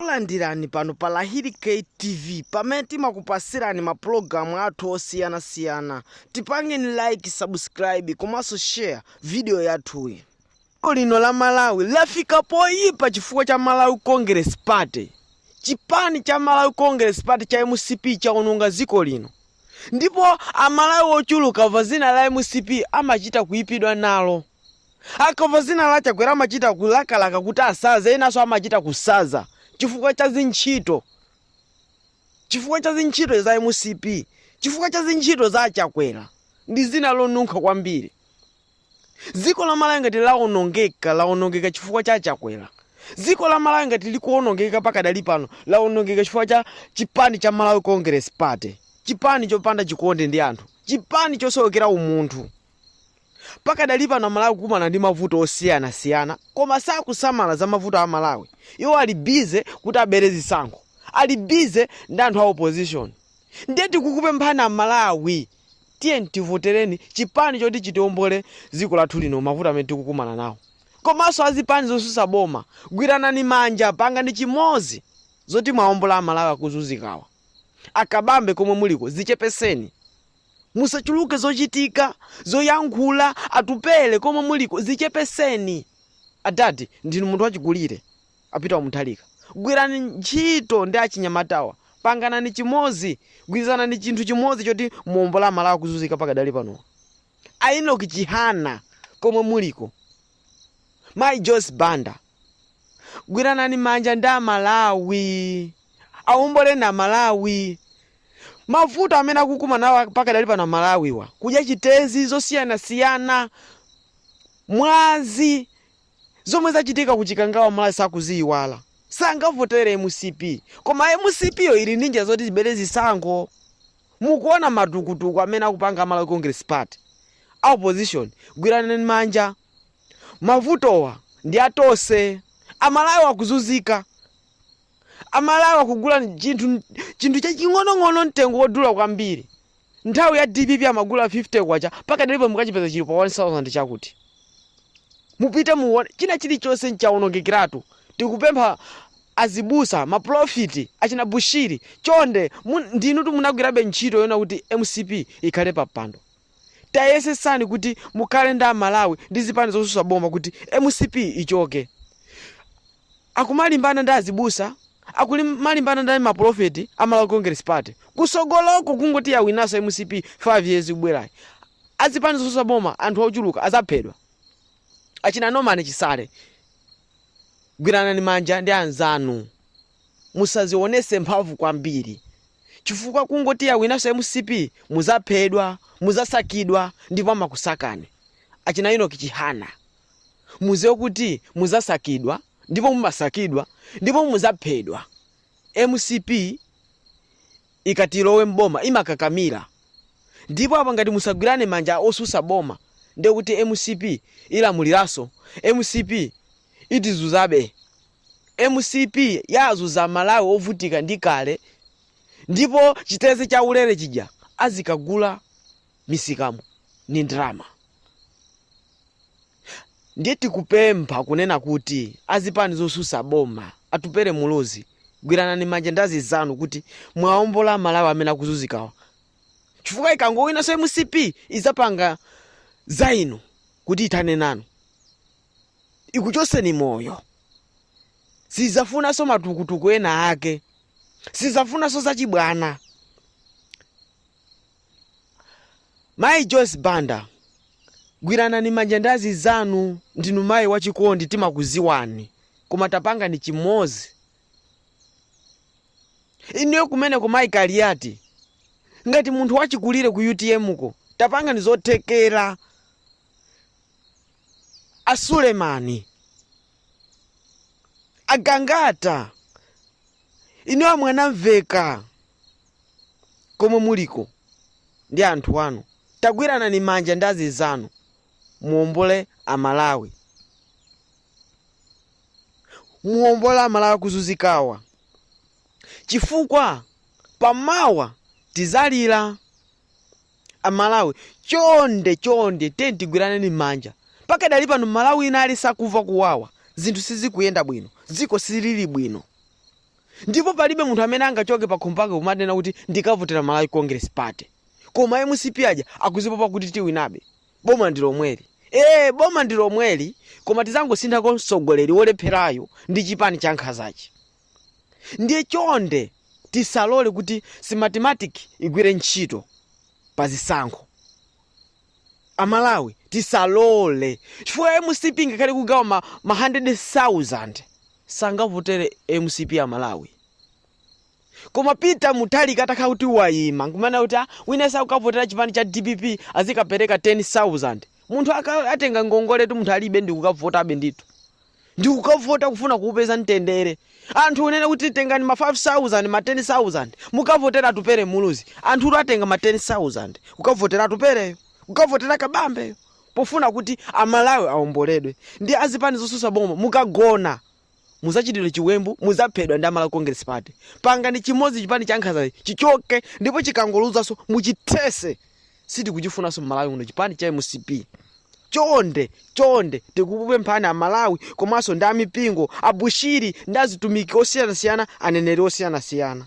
Takulandirani pano pa Lahiri K TV pamene timakupasirani ma pulogalamu athu osiyana siyana. Tipangeni like, subscribe komanso share video yathuyi. Dziko lino la Malawi lafika poyipa chifukwa cha Malawi Congress Party. Chipani cha Malawi Congress Party cha mcp chaononga dziko lino ndipo a Malawi ochuluka akamva dzina la mcp amachita kuyipidwa nalo. Akamva zina la Chakwera amachita kulakalaka kuti asaze, enanso amachita kusaza chifukwa cha zintchito, chifukwa cha zintchito za mcp, chifukwa cha zintchito za a Chakwera ndi zina lonunkha kwambiri. Dziko la Malawi ngati lawonongeka, lawonongeka chifukwa cha a Chakwera. Dziko la Malawi ngati likuwonongeka pakadali pano, lawonongeka chifukwa cha chipani cha Malawi Congress Party, chipani chopanda chikondi ndi anthu, chipani chosowekera umunthu. Pakadali pano amalawi akukumana ndi mavuto osiyana siyana koma sakusamala za mavuto a malawi iwo ali busy kuti abere zisankho ali busy ndi anthu a opposition ndiye tikukupemphani amalawi tiyeni tivotereni chipani choti chitiombole dziko lathu lino mavuto amene tikukumana nawo komanso azipani zosusa boma gwiranani manja pangani chimodzi zoti mwaombola amalawi akuzunzikawa akabambe komwe muliko zichepeseni Musachuluke zochitika, zoyankhula, Atupele komwe muliko zichepeseni. Adad ndinu munthu wachikulire, a Peter Muthalika gwirani ntchito ndi achinyamatawa, panganani chimozi, gwirizanani chinthu chimozi choti muombole a Malawi akuzuzika pakadali panowa. A Enock Chihana komwe muliko, Mayi Joyce Banda. gwiranani manja ndi amalawi awomboleni amalawi mavuto amene akukumana nawo pakadali pano amalawiwa kudya chitedze zosiyanasiyana mwazi zomwe zachitika kuchikangawa malawi sakuziyiwala sangavotere mcp koma mcp yo ili ndi njira zoti ibere zisankho mukuona matukutuku amene akupanga malawi congress party a opposition gwiranani manja mavutowa ndi atose amalawi akuzuzika amalawi akugula chinthu chinthu chaching'onong'ono mtengo wodula kwambiri nthawi ya dpp amagula 50 kwacha pakadali pano mukachipeza chili pa 1000 chakuti mupite muone china chilichonse chawonongekeratu tikupempha azibusa maprofiti achina bushiri chonde mu- ndinutu munagwirabe ntchito yona kuti mcp ikhale pa mpando tayesesani kuti mukhale ndi a Malawi ndi zipani zosusa boma kuti mcp ichoke. Akumalimbana ndi azibusa, akulimalimbana ndi ma prophet a Malawi Congress Party. Kusogoloko kungoti yawinaso mcp 5 years ikubwerayi. Azipani zosusa boma anthu ochuluka azaphedwa. Achina Norman Chisale gwiranani manja ndi anzanu. musazionese mphamvu kwambiri chifukwa kungoti yawinaso mcp muzaphedwa muzasakidwa ndipo amakusakani achina Enoch Chihana muziwe kuti muzasakidwa ndipo mumasakidwa ndipo muzaphedwa mcp ikati ilowe mboma imakakamila ndipo apa ngati musagwirane manja osusa boma ndekuti mcp ilamuliraso mcp itizuzabe Mcp yazuza amalawi ovutika ndi kale ndipo chitedze chaulere chija azikagula misikamu ndi ndrama ndiye tikupempha kunena kuti azipani zosusa boma Atupele Muluzi gwiranani manja ndi azinzanu kuti muwaombole amalawi amene akuzuzikawa chifukwa ikangowinanso mcp izapanga zainu kuti itane nanu ikuchoseni moyo sizafunanso matukutuku ena ake sizafunanso zachibwana mayi joyce banda gwiranani manja ndi azinzanu ndinu mayi wachikondi timakuziwani koma tapangani chimozi inuyo kumeneko mayi kaliyati ngati munthu wachikulire ku utm ko tapangani zothekera a Sulemani, a Gangata, inu a Mwanamveka komwe muliko ndi anthu anu, tagwiranani manja ndi azinzanu muombole Amalawi, muombole Amalawi akuzunzikawa chifukwa pamawa tizalira. Amalawi chonde chonde tiyeni tigwiraneni manja pakadali pano Malawi wina aliyense akuva kuwawa zinthu sizikuyenda bwino dziko silili bwino ndipo palibe munthu amene angachoke pakhomo pake kumanena kuti ndikavotera Malawi Congress party koma a mcp aja akuzipopa kuti tiwinabe boma ndilomweli ee boma ndilomweli koma tizangosintha ko mtsogoleri wolepherayu ndi chipani chankhazachi. Ndiye chonde tisalole kuti Smartmatic igwire ntchito pa zisankho. A Malawi tisalole chifukwa mcp ngakhale ikugawa ma, ma 100,000 sangavotere mcp a Malawi. Koma Peter Mutharika atakhala kuti wayima nkumana kuti ah, wina akukavotera chipani cha dpp azikapereka 10,000 munthu aka- atenga ngongoletu munthu alibe ndi kukavotabe ndithu. ndikukavota kufuna kuupeza mtendere anthu unene kuti tengani ma 5000 ma 10000 mukavotera atupere muluzi anthu atenga ma 10000 kukavotera atupereyo kukavotera kabambeyo pofuna kuti amalawi aomboledwe ndi azipani zosusa boma mukagona muzachitidwa chiwembu muzaphedwa ndi a malawi congress party pangani chimodzi chipani cha nkhazachi chichoke ndipo chikangoluzanso muchithese sitikuchifunanso mmalawi uno chipani cha mcp chonde chonde tikupemphani amalawi komanso ndi amipingo abusa ndi azitumiki osiyanasiyana aneneri osiyanasiyana